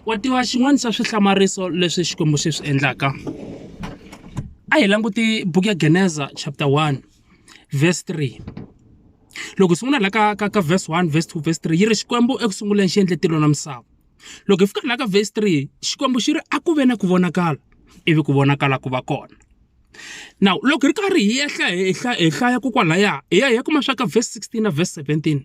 wa tiva xin'wana xa swihlamariso leswi Xikwembu xi swi endlaka? A hi languti buku ya Geneza chapter one verse three. Loko hi sungula laha ka ka ka verse one, verse two, verse three yi ri Xikwembu eku sunguleni xi endle tilo na misava. Loko hi fika laha ka verse three Xikwembu xi ri a ku ve na ku vonakala ivi ku vonakala ku va kona. Now loko hi ri karhi hi ehla hi hi hlaya kokwalahaya hi ya hi ya kuma swa ka verse sixteen na verse seventeen.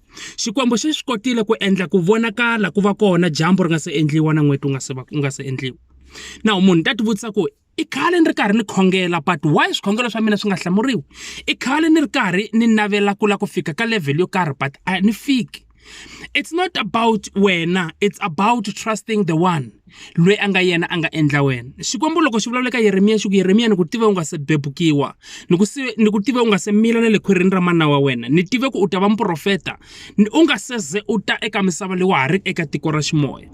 Xikwembu xi swi kotile ku endla ku vonakala ku va kona dyambu ri nga se endliwa na n'weti wu nga se va wu nga se endliwa. Now munhu ta tivutisa ku i khale ni ri karhi ni khongela but why swikhongelo swa mina swi nga hlamuriwi? I khale ni ri karhi ni navela ku lava ku fika ka level yo karhi but a ni fiki. It's not about wena it's about trusting the one. loyi a nga yena a nga endla wena xikwembu loko xi vulavula eka yeremiya xi ku yeremiya ni ku tive u nga se bebukiwa ni ku ni ku tive u nga se mila na le khwirini ra mana wa wena ni tive ku u ta va muprofeta u nga se ze u ta eka misava leyi wa ha ri eka tiko ra ximoya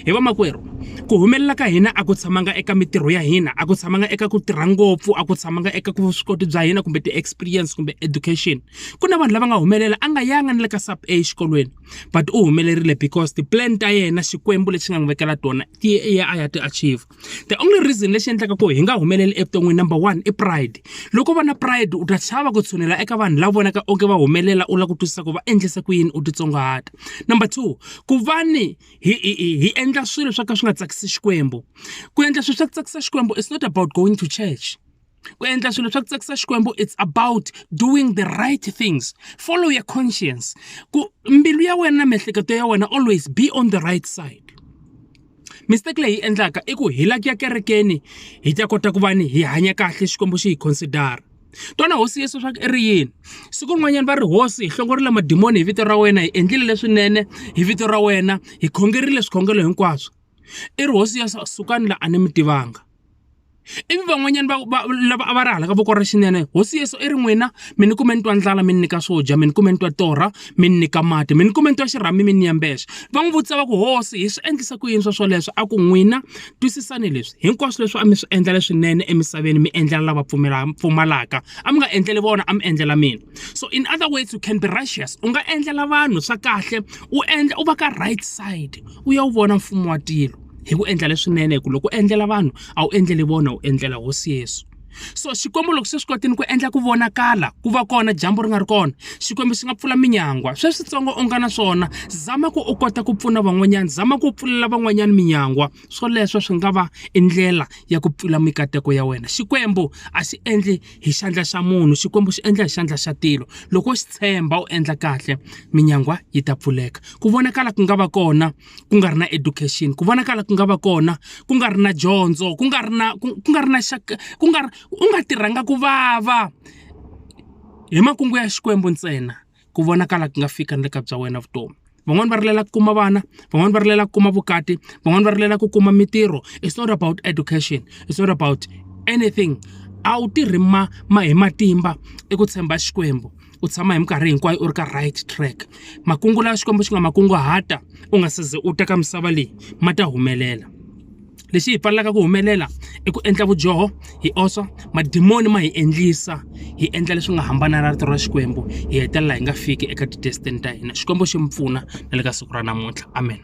hi vamakwerhu ku humelela ka hina a ku tshamanga eka mitirho ya hina a ku tshamanga eka ku tirha ngopfu a ku tshamanga eka ku vuswikoti bya hina kumbe ti-experience kumbe education ku na vanhu lava nga humelela a nga yanga ni le ka sub a exikolweni but u humelerile because ti-plan ta yena Xikwembu lexi nga n'wi vekela tona ti ya a ya ti achiever. The only reason lexi endlaka ku hi nga humeleli evuton'wini number one i pride. Loko u va na pride u ta chava ku tshunela eka vanhu lava vonaka onge va humelela u lava ku twisisa ku va endlise ku yini u titsongahata. Number two ku va ni hi hi hi hi endla swilo swo ka swi nga tsakisi Xikwembu. Ku endla swilo swa ku tsakisa Xikwembu is not about going to church. ku endla swilo swa ku tsakisa xikwembu it's about doing the right things follow your conscience ku mbilu ya wena na miehleketo ya wena always be on the right side mistake leyi endlaka i ku hi la ku ya kerekeni hi ta kota ku va ni hi hanya kahle xikwembu xi hi considera twana hosi yesu swa ku i ri yini siku rin'wanyana va ri hosi hi hlongorile madimoni hi vito ra wena hi endlile leswinene hi vito ra wena hi khongerile swikhongelo hinkwaswo i ri hosi yesu sukani la a ni mi tivanga ivi van'wanyana va va lava a va ri hala ka voko ra xinene hosi yesu i ri n'wina mi ni kume ni twa ndlala mi ni nyika swo dya mi ni kume ni twa torha mi ni nyika mati mi ni kume ni twa xirhami mi ni yembexo va n'wi vutisa va ku hosi hi swi endlisa ku yini swa swoleswo a ku n'wina twisisani leswi hinkwaswo leswi a mi swi endla leswinene emisaveni mi endlela lava pfumalaka a mi nga endleli vona a mi endlela mina so in other words u can be righteous u nga endlela vanhu swa kahle u endla u va ka right side u ya wu vona mfumo wa tilo. hi ku endla leswinene hi ku loko u endlela vanhu a wu endleli vona u endlela hosi yesu so xikwembu loko se swi kotini ku endla ku vonakala ku va kona dyambu ri nga ri kona xikwembu xi nga pfula minyangwa sweswitsongo u nga na swona zama ku u kota ku pfuna van'wanyana zama ku pfulela van'wanyana minyangwa swoleswo swi nga va i ndlela ya ku pfula mikateko ya wena xikwembu a xi endli hi xandla xa munhu xikwembu xi endla hi xandla xa tilo loko xi tshemba u endla kahle minyangwa yi ta pfuleka ku vonakala ku nga va kona ku nga ri na education ku vonakala ku nga va kona ku nga ri na dyondzo ku nga ri na ku nga ri na xaka ku nga ri u nga tirhanga ku vava hi makungu ya xikwembu ntsena ku vonakala ku nga fika ni le ka bya wena vutomi van'wani va rilela ku kuma vana van'wani va rilela ku kuma vukati van'wani va rilela ku kuma mitirho it's not about education it's not about anything a wu tirhi ma ma hi matimba i ku tshemba xikwembu u tshama hi minkarhi hinkwayo u ri ka right track makungu lawa xikwembu xi nga makunguhata u nga se ze u teka misava leyi ma ta humelela lexi hi pfalelaka ku humelela i ku endla vudyoho hi oswa madimoni ma hi endlisa hi endla leswi nga hambana na rito ra xikwembu hi hetelela hi nga fiki eka ti-destiny ta hina xikwembu xi mi pfuna na le ka siku ra namuntlha amen